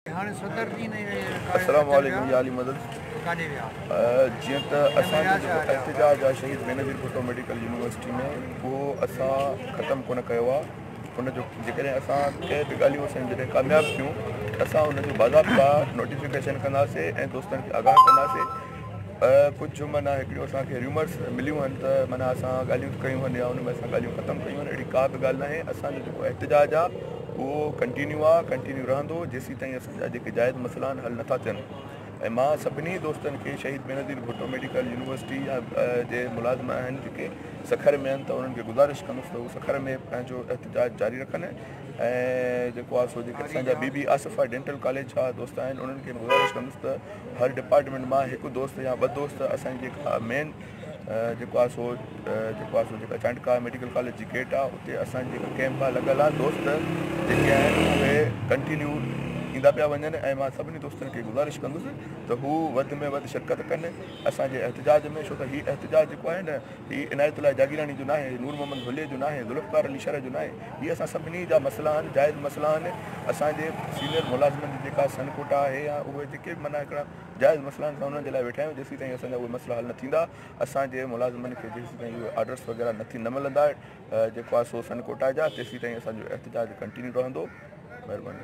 السلام عليڪم يا علي مدد جيئن ته اسان جو احتجاج آ شهيد بينظير ڀٽو ميڊيڪل يونيورسٽي ۾ اهو اسان ختم ڪونه ڪيو آ ان جو جيڪڏهن اسان ڪنهن به ڳالهيون اسان جڏهن ڪامياب ٿيون اسان ان جو باضابطا نوٽيفڪيشن ڪنداسين ۽ دوستن کي آگاهه ڪنداسين ڪجهه معنيٰ هڪڙيون اسان کي ريومرس مليون آهن ته معنيٰ اسان ڳالهيون ته ڪيون آهن يا ان ۾ اسان ڳالهيون ختم ڪيون آهن اهڙي ڪا به ڳالهه ناهي اسان جو جيڪو احتجاج آهي اهو ڪنٽينيو آهي ڪنٽينيو رهندو جيسين تائين اسان جا جيڪي جائز مسئلا آهن حل نٿا ٿين ۽ مان سڀني دوستن کي شهيد بينظير ڀٽو ميڊيڪل يونيورسٽي يا جي ملازم آهن جيڪي سکر ۾ آهن ته انهن کي گذارش ڪندس ته هو سکر ۾ پنهنجو احتجاج جاري رکن ۽ جيڪو آهي سو جيڪي اسان جا Bibi Asifa dental college جا دوست آهن انهن کي گذارش ڪندس ته هر ڊپارٽمينٽ مان هڪ دوست يا ٻه دوست اسان جي جيڪا مين جيڪو آهي سو جيڪو آهي سو جيڪا چانڊڪا ميڊيڪل ڪاليج جي گيٽ آهي اتي اسان جي ڪيمپ آهي لڳل آهي دوست جيڪي آهن اهي ڪنٽينيو ايندا پيا وڃن ۽ مان سڀني دوستن کي گذارش ڪندس ته هو وڌ ۾ وڌ شرڪت ڪن اسان جي احتجاج ۾ ڇو ته هي احتجاج جيڪو آهي نه هي عنايت الله جاگيراڻي جو ناهي، نور محمد ڍوليء جو ناهي، ذوالفقار علي شرح جو ناهي، هي اسان سڀني جا مسئلا آهن، جائز مسئلا آهن، اسان جي سينيئر ملازمن جي جيڪا سن ڪوٽا آهي يا اهي جيڪي به معنيٰ هڪڙا جائز مسئلا آهن اسان انهن جي لاء ويٺا آهيون، جيسيتائين اسان جا اهي مسئلا حل نه ٿيندا، اسان جي ملازمن کي جيسيتائين اهي آرڊرس وغيره نه ٿي نه ملندا جيڪو آهي سو سن ڪوٽا جا، تيسيتائين اسان جو احتجاج ڪنٽينيو رهندو. مهرباني.